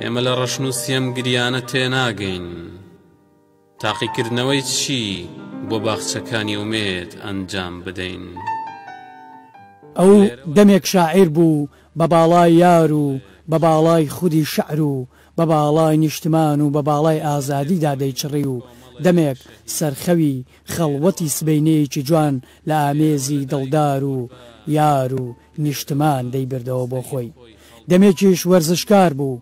ئێمە لە ڕەشن و سێم گریانە تێناگەین تاقیکردنەوەی چی بۆ باخچەکانی ئومێد ئەنجام بدەین. ئەو دەمێک شاعیر بوو بە باڵای یار و بە باڵای خودی شعر و بە باڵای نیشتمان و بە باڵای ئازادیدا دەیچڕی و دەمێک سەرخەوی خەڵوەتی سبەینێیەکی جوان لە ئامێزی دڵدار و یار و نیشتمان دەیبردەوە بۆ خۆی. دەمێکیش وەرزشکار بوو.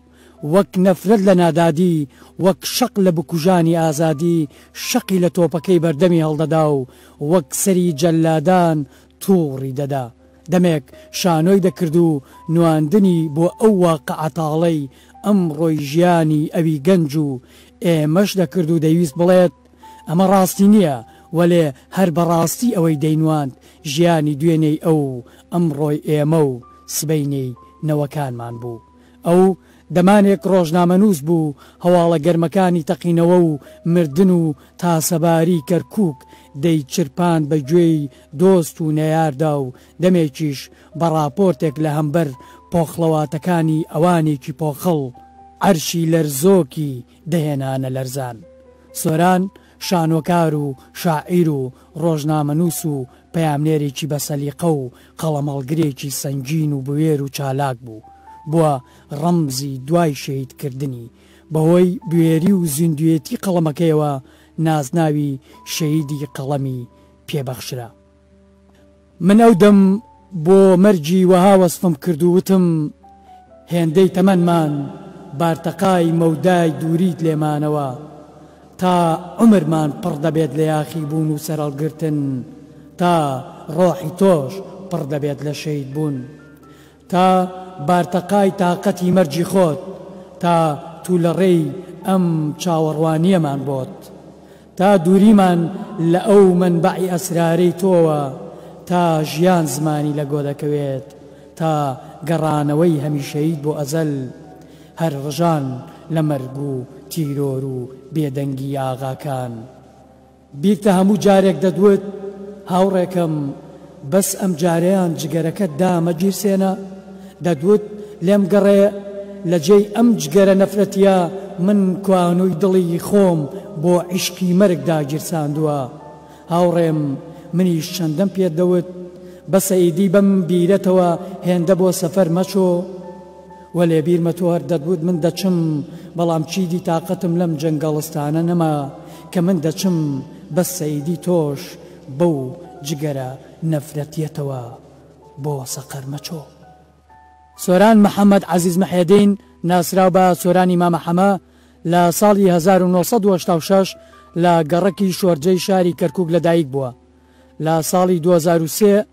وەک نەفرەت لە نادادی، وەک شەق لە بکوژانی ئازادی، شەقی لە تۆپەکەی بەردەمی هەڵدەدا و وەک سەری جەللادان تووڕی دەدا. دەمێک شانۆی دەکرد و نواندنی بۆ ئەو واقعە تاڵەی ئەمڕۆی ژیانی ئەوی گەنج و ئێمەش دەکرد و دەیویست بڵێت، ئەمە ڕاستی نییە، وەلێ هەر بە ڕاستی ئەوەی دەینواند ژیانی دوێنێی ئەو و ئەمڕۆی ئێمە و سبەینێی نەوەکانمان بوو. ئەو دەمانێک ڕۆژنامەنووس بوو، هەواڵە گەرمەکانی تەقینەوە و مردن و تاسەباری کەرکووک دەیچرپاند بە گوێی دۆست و نەیاردا و دەمێکیش بە ڕاپۆرتێک لە هەمبەر پۆخڵەواتەکانی ئەوانێکی پۆخڵ عەرشی لەرزۆکی دەهێنانە لەرزان. سۆران شانۆکار و شاعیر و ڕۆژنامەنووس و پەیامنێرێکی بەسەلیقە و قەڵەمهەڵگرێکی سەنگین و بوێر و چالاک بوو. بووە ڕەمزی دوای شەهیدکردنی. بەهۆی بوێری و زیندووێتی قەڵەمەکەیەوە نازناوی شەهیدی قەڵەمی پێ بەخشرا. من ئەو دەم بۆ مەرگی وەها وەسفم کرد و وتم، هێندەی تەمەنمان بارتەقای مەودای دووریت لێمانەوە، تا عومرمان پڕ دەبێت لە یاخیبوون و سەرهەڵگرتن، تا ڕۆحی تۆش پڕ دەبێت لە شەهیدبوون. تا بارتەقای تاقەتی مەرگی خۆت تا تو لە ڕێی ئەم چاوەڕوانیەمان بۆت تا دوریمان لە ئەو مەنبەعی ئەسرارەی تۆوە تا ژیان زمانی لە گۆ دەکەوێت تا گەڕانەوەی هەمیشەییت بۆ ئەزەل هەر ڕژان لە مەرگ و تیرۆر و بێدەنگی ئاغاکان. بیرتە هەموو جارێک دەتوت هاوڕێکەم بەس ئەم جارەیان جگەرەکەت دامە گیرسێنە دەتوت لێم گەڕێ لە جێی ئەم جگەرە نەفرەتیە من کوانوی دڵی خۆم بۆ عیشقی مەرگ داگیرساندوە هاوڕێم منیش چەندەم پێت دەوت بەسە ئیدی بەم بیرەتەوە هێندە بۆ سەفەر مەچۆ وەلێ بیرمە تۆ هەر دەتوت من دەچم، بەڵام چیدی تاقەتم لەم جەنگەڵستانە نەما کە من دەچم، بەس سەیدی تۆش بەو جگەرە نەفرەتیەتەوە بۆ سەقەر مەچۆ. سۆران محەمەد عەزیز محێدین ناسراو بە سۆرانی مامە حەمە لە ساڵی هەزار و نۆ سەد و هەشتا و شەش لە گەڕەکی شۆرجەی شاری کەرکووک لەدایکبووە، لە ساڵی دوو هەزار و سێ،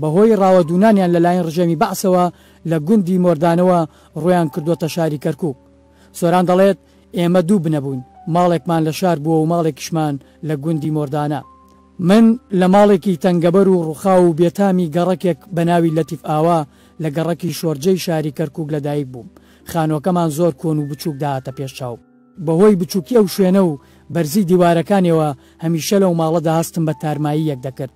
بەهۆی ڕاوەدوونانیان لەلایەن ڕژێمی بەعسەوە لە گوندی مۆردانەوە ڕوویان کردووەتە شاری کەرکووک. سۆران دەڵێت، ئێمە دوو بنە بووین، ماڵێکمان لە شار بووە و ماڵێکیشمان لە گوندی مۆردانە. من لە ماڵێکی تەنگەبەر و ڕووخاو و بێتامی گەڕەکێک بە ناوی لەتیف ئاوا لە گەڕەکی شۆرجەی شاری کەرکووک لەدایک بووم. خانووەکەمان زۆر کۆن و بچووک دەهاتە پێش چاو. بەهۆی بچووکی ئەو شوێنە و بەرزی دیوارەکانیەوە هەمیشە لەو ماڵەدا هەستم بە تارماییەک دەکرد.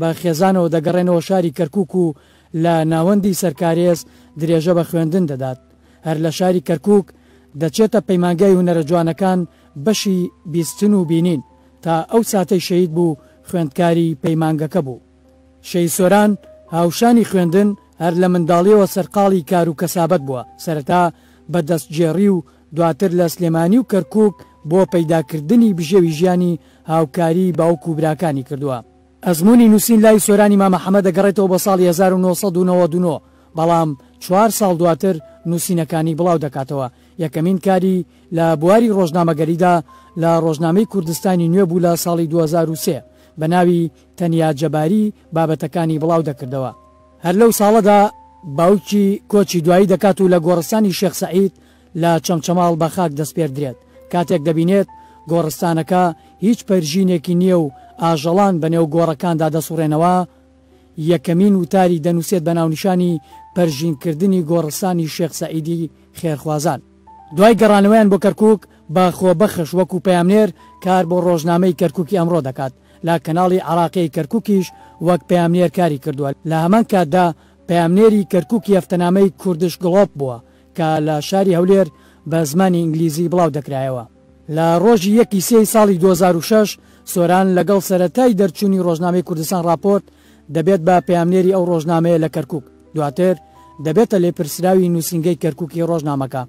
بە خێزانەوە دەگەڕێنەوە شاری کەرکووک و لە ناوەندی سەرکارێز درێژە بە خوێندن دەدات. هەر لە شاری کەرکووک دەچێتە پەیمانگای هونەرە جوانەکان بەشی بیستن و بینین. تا ئەو ساتەی شەهید بوو خوێندکاری پەیمانگەکە بوو. شەهید سۆران هاوشانی خوێندن هەر لە منداڵییەوە سەرقاڵی کار و کەسابەت بووە، سەرەتا بە دەستگێڕی و دواتر لە سلێمانی و کەرکوک بۆ پەیدا کردنی بژێوی ژیانی هاوکاریی باوک و براکانی کردووە. ئەزموونی نووسین لای سۆرانی مامە حەمە دەگەڕێتەوە بۆ ساڵی هەزار و نۆ سەد و نەوەد و نۆ، بەڵام چوار ساڵ دواتر نووسینەکانی بڵاو دەکاتەوە. یەکەمین کاری لە بواری ڕۆژنامەگەریدا لە ڕۆژنامەی کوردستانی نوێ بوو لە ساڵی دوو هەزار و سێ بە ناوی تەنیا جەباری بابەتەکانی بڵاو دەکردەوە. هەر لەو ساڵەدا باوکی کۆچی دوایی دەکات و لە گۆڕستانی شێخ سەعید لە چەمچەماڵ بە خاک دەسپێردرێت، کاتێک دەبینێت گۆڕستانەکە هیچ پەرژینێکی نییە و ئاژەڵان بە نێو گۆڕەکاندا دەسوڕێنەوە، یەکەمین وتاری دەنووسێت بە ناونیشانی پەرژینکردنی گۆڕستانی شێخ سەعیدی خێرخوازان. دوای گەڕانەوەیان بۆ کەرکووک، باخۆ بەخش وەکوو پەیامنێر کار بۆ ڕۆژنامەی کەرکووکی ئەمڕۆ دەکات، لە کەناڵی عەراقیی کەرکووکیش وەک پەیامنێر کاری کردووە، لە هەمان کاتدا پەیامنێری کەرکووکی هەفتەنامەی کوردش گڵۆپ بووە کە لە شاری هەولێر بە زمانی ئینگلیزی بڵاو دەکرایەوە. لە ڕۆژی یەک ی سێ ی ساڵی دوو هەزار و شەش سۆران لەگەڵ سەرەتای دەرچوونی ڕۆژنامەی کوردستان ڕاپۆرت دەبێت بە پەیامنێری ئەو ڕۆژنامەیە لە کەرکووک، دواتر دەبێتە لێپرسراوی نووسینگەی کەرکووکی ڕۆژنامەکە.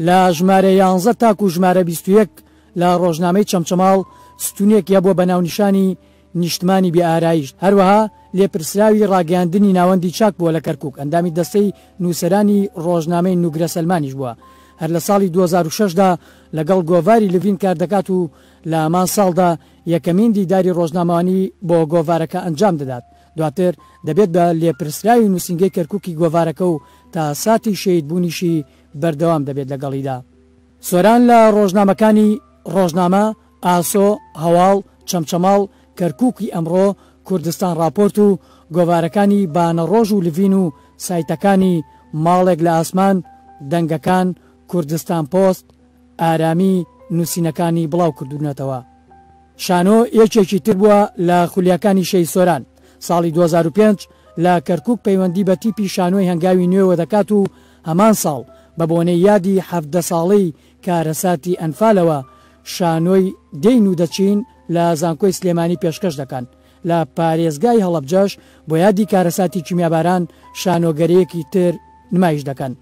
لە ژمارە یانزە تاکوو ژمارە بیست و یەک لە ڕۆژنامەی چەمچەماڵ ستوونێکی هەبووە بە ناونیشانی، نیشتمانی بێ ئارایشت هەروەها لێپرسراوی ڕاگەیاندنی ناوەندی چاک بووە لە کەرکووک، ئەندامی دەستەی نووسەرانی ڕۆژنامەی نوگرە سەلمانیش بووە هەر لە ساڵی دوو هەزار و شەش دا لەگەڵ گۆڤاری لڤین کار دەکات و لە هەمان ساڵدا یەکەمین دیداری ڕۆژنامەوانی بۆ گۆڤارەکە ئەنجام دەدات دواتر دەبێت بە لێپرسراوی نووسینگەی کەرکووکی گۆڤارەکە و تا ساتی شەهید بوونیشی بەردەوام دەبێت لەگەڵیدا. سۆران لە ڕۆژنامەکانی، ڕۆژنامە، ئاسۆ، هەواڵ، چەمچەماڵ، کەرکووکی ئەمڕۆ، کوردستانڕاپۆرت و گۆڤارەکانی بانەڕۆژ و لڤین و سایتەکانی، ماڵێک لە ئاسمان، دەنگەکان، کوردستانپۆست، ئارامی، نووسینەکانی بڵاوکردوونەتەوە. شانۆ یەکێکی تر بووە لە خولیاکانی شێی سۆران. ساڵی دوو هەزار و پێنج لە کەرکووک پەیوەندی بە تیپی شانۆی هەنگاوی نوێوە دەکات و هەمان ساڵ بە بۆنەی یادی حەڤدە ساڵەی کارەساتی ئەنفالەوە شانۆی دێین و دەچین لە زانکۆی سلێمانی پێشکەش دەکەن، لە پارێزگای هەڵەبجەش بۆ یادی کارەساتی کیمیاباران شانۆگەریەکی تر نمایش دەکەن.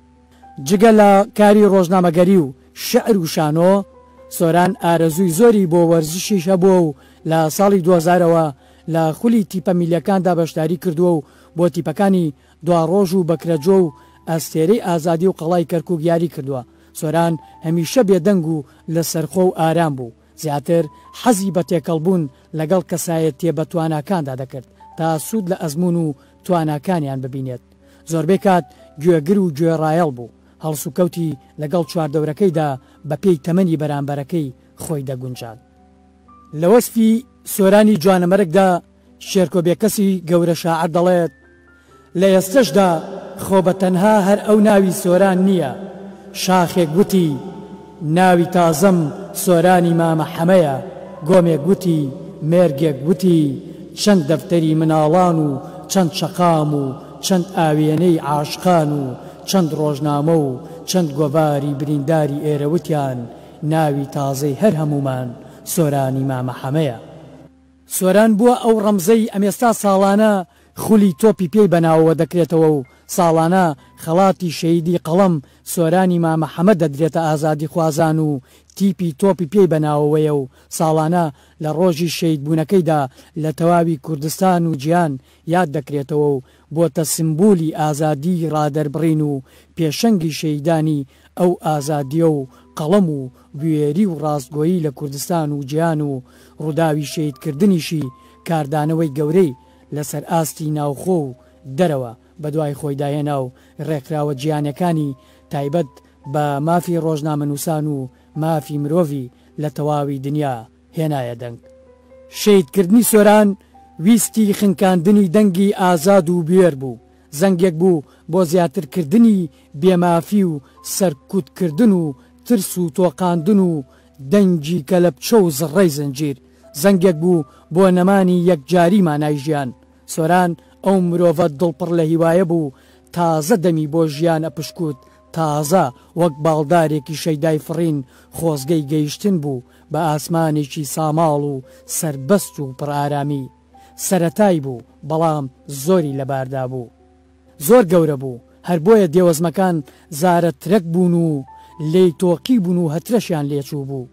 جگە لە کاری ڕۆژنامەگەری و شیعر و شانۆ، سۆران ئارەزووی زۆری بۆ وەرزشیش هەبووە و لە ساڵی دووهەزارەوە لە خولی تیپە میللیەکاندا بەشداری کردووە و بۆ تیپەکانی دواڕۆژ و بەکرەجۆ و ئەستێرەی ئازادی و قەڵای کەرکووک یاری کردووە. سۆران هەمیشە بێدەنگ و لەسەرخۆ و ئارام بوو، زیاتر حەزی بە تێکەڵبوون لەگەڵ کەسایەتییە بەتواناکاندا دەکرد تا سوود لە ئەزموون و تواناکانیان ببینێت. زۆربەی کات گوێگر و گوێڕایەڵ بوو، هەڵسوکەوتی لەگەڵ چواردەورەکەیدا بەپێی تەمەنی بەرانبەرەکەی خۆی دەگونجاند. لە وەسفی سۆرانی جوانەمەرگدا، شێرکۆ بێکەسی گەورە شاعر دەڵێت، لە ئێستەشدا خۆ بە تەنها هەر ئەو ناوی سۆران نییە، شاخێک وتی، ناوی تازەم سۆرانی مامە حەمەیە، گۆمێک وتی، مێرگێک وتی، چەند دەفتەری مناڵان و چەند شەقام و چەند ئاوێنەی عاشقان و چەند ڕۆژنامە و چەند گۆڤاری برینداری ئێرە وتیان، ناوی تازەی هەر هەموومان سۆرانی مامە حەمەیە. سۆران بووە ئەو ڕەمزەی ئەمێستا ساڵانە خولی تۆپی پێی بە ناوەوە دەکرێتەوە و ساڵانە خەڵاتی شەهیدی قەڵەم سۆرانی مامە حەمە دەدرێتە ئازادیخوازان و تیپی تۆپی پێی بە ناوەوەیە و ساڵانە لە ڕۆژی شەهیدبوونەکەیدا لە تەواوی کوردستان و جیهان یاد دەکرێتەوە و بۆتە سمبولی ئازادی ڕادەربڕین و پێشەنگی شەیدانی ئەو ئازادیە و قەڵەم و بوێری و ڕاستگۆیی لە کوردستان و جیهان و ڕوداوی شەیدکردنیشی کاردانەوەی گەورەی لەسەر ئاستی ناوخۆ و دەرەوە بەدوای خۆیدا هێنا و ڕێکخراوە جیهانیەکانی تایبەت بە مافی ڕۆژنامەنوسان و مافی مرۆڤی لە تەواوی دنیا هێنایە دەنگ. شەهیدکردنی سۆران ویستی خنکاندنی دەنگی ئازاد و بوێر بوو، زەنگێک بوو بۆ زیاترکردنی بێ مافی و سەرکوتکردن و ترس و تۆقاندن و دەنگی کەلەپچە و زڕەی زنجیر، زەنگێک بوو بۆ نەمانی یەکجاری مانای ژیان. سۆران ئەو مرۆڤە دڵ پڕ لە هیوایە بوو تازە دەمی بۆ ژیان ئەپشکووت، تازە وەک باڵدارێکی شەیدای فڕین خۆزگەی گەیشتن بوو بە ئاسمانێکی ساماڵ و سەربەست و پڕ ئارامی. سەرەتای بوو، بەڵام زۆری لەباردا بوو. زۆر گەورە بوو، هەر بۆیە دێوەزمەکان زارە ترەک بوون و لێی تۆقیبوون و هەترەشیان لێ چووبوو.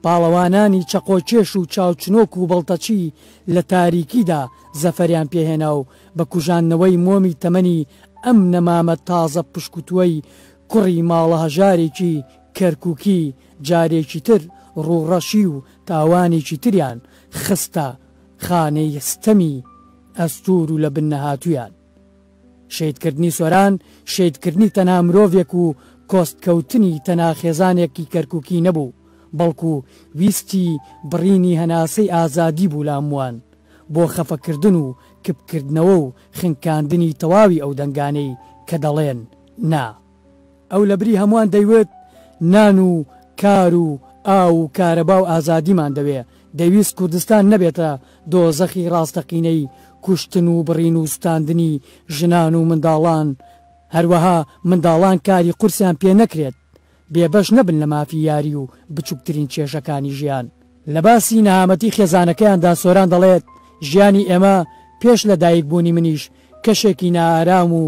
پاڵەوانانی چەقۆکێش و چاوچنۆک و بەڵتەچی لە تاریکیدا زەفەریان پێ هێنا و بە کوژاندنەوەی مۆمی تەمەنی ئەم نەمامە تازە پشکوتووەی کوڕی ماڵە هەژارێکی کەرکوکی جارێکی تر ڕووڕەشی و تاوانێکی تریان خستە خانەی ستەمی ئەستوور و لە بن نەهاتوویان. شەیدکردنی سۆران شەیدکردنی تەنها مرۆڤێک و کۆستکەوتنی تەنها خێزانێکی کەرکوکی نەبوو، بەڵکو ویستی بڕینی هەناسەی ئازادی بوو لە هەمووان، بۆ خەفەکردن و کپکردنەوە و خنکاندنی تەواوی ئەو دەنگانەی کە دەڵێن نا. ئەو لەبری هەمووان دەیوت نان و کار و ئاو و کارەبا و ئازادیمان دەوێ، دەیویست کوردستان نەبێتە دۆزەخی ڕاستەقینەی کوشتن و بڕین و سوتاندنی ژنان و منداڵان، هەروەها منداڵان کاری قورسیان پێ نەکرێت، بێبەش نەبن لە مافی یاری و بچوکترین کێشەکانی ژیان. لە باسی نەهامەتی خێزانەکەیاندا سۆران دەڵێت، ژیانی ئێمە پێش لە دایک بوونی منیش کەشێکی نائارام و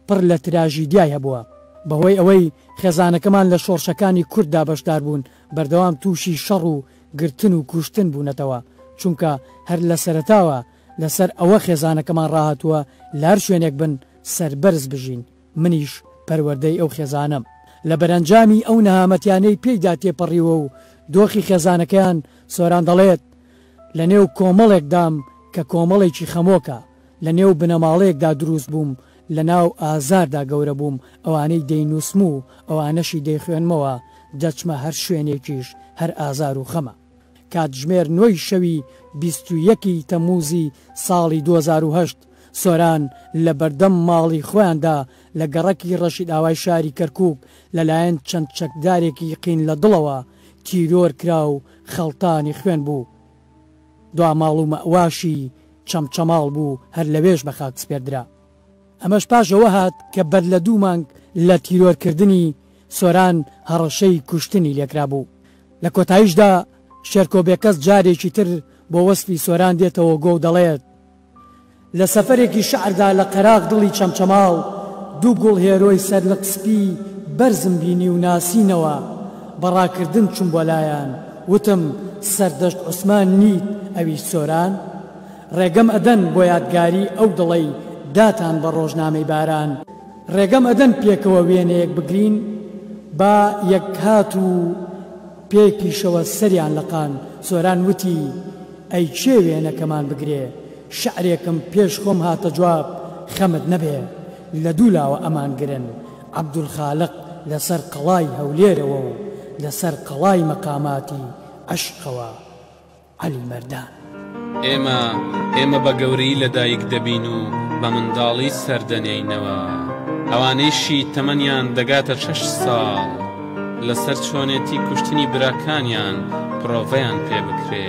پڕ لە تراژیدیای هەبووە. بەهۆی ئەوەی خێزانەکەمان لە شۆڕشەکانی کورددا بەشدار بوون، بەردەوام تووشی شەڕ و گرتن و کوشتن بوونەتەوە، چونکە هەر لە سەرەتاوە لەسەر ئەوە خێزانەکەمان ڕاهاتووە لە هەر شوێنێک بن سەربەرز بژین، منیش پەروەردەی ئەو خێزانەم لە بەرەنجامی ئەو نەهامەتیانەی پێیدا تێپەڕیوە و دۆخی خێزانەکەیان، سۆران دەڵێت، لەنێو کۆمەڵێکدام کە کۆمەڵێکی خەمۆکە، لە نێو بنەماڵەیەکدا دروست بووم، لە ناو ئازاردا گەورە بووم، ئەوانەی دەینووسم و ئەوانەشی دەیخوێنمەوە، دەچمە هەر شوێنێکیش هەر ئازار و خەمە. کاتژمێر نۆی شەوی بیست و یەک ی تەمووزی ساڵی دوو هەزار و هەشت، سۆران لە بەردەم ماڵی خۆیاندا لە گەڕەکی ڕەشیدئاوای شاری کەرکووک لەلایەن چەند چەکدارێکی قین لە دڵەوە تیرۆر کرا و خەڵتانی خوێن بوو. دوا ماڵ و مەئواشی چەمچەماڵ بوو، هەر لەوێش بە خاک سپێردرا. ئەمەش پاش ئەوە هات کە بەر لە دوو مانگ لە تیرۆرکردنی سۆران هەڕەشەی کوشتنی لێکرابوو. لە کۆتاییشدا شێرکۆ بێکەس جارێکی تر بۆ وەسفی سۆران دێتەوە گۆ و دەڵێت، لە سەفەرێکی شەعردا لە قەراغ دڵی چەمچەماڵ دوو گوڵ هێرۆی سەرلق سپی بەرزم بینی و ناسینەوە، بە ڕاکردن چووم بۆ لایان، وتم، سەردەشت عوسمان نیت ئەویش سۆران؟ ڕێگەم ئەدەن بۆ یادگاری ئەو دڵەی داتان بە ڕۆژنامەی باران؟ ڕێگەم ئەدەن پێکەوە وێنەیەک بگرین با یەکهات و. پێی پیشەوە سەریان لەقان سۆران وتی، ئەی کێ وێنەکەمان بگرێ؟ شعرێکم پێش خۆم هاتە جواب، خەمت نەبێ لە دوو لاوە ئەمان گرن، عەبدولخالق لە سەر قەڵای هەولێرەوە و لە سەر قەڵای مەقاماتی عەشقەوە. عەلی مەردان. ئێمە ئێمە بە گەورەی لە دایک دەبین و بە منداڵی سەر دەنێینەوە. ئەوانەیشی تەمەنیان دەگاتە شەش ساڵ لە سەر چۆنێتی کوشتنی براکانیان پرۆڤەیان پێ بکرێ.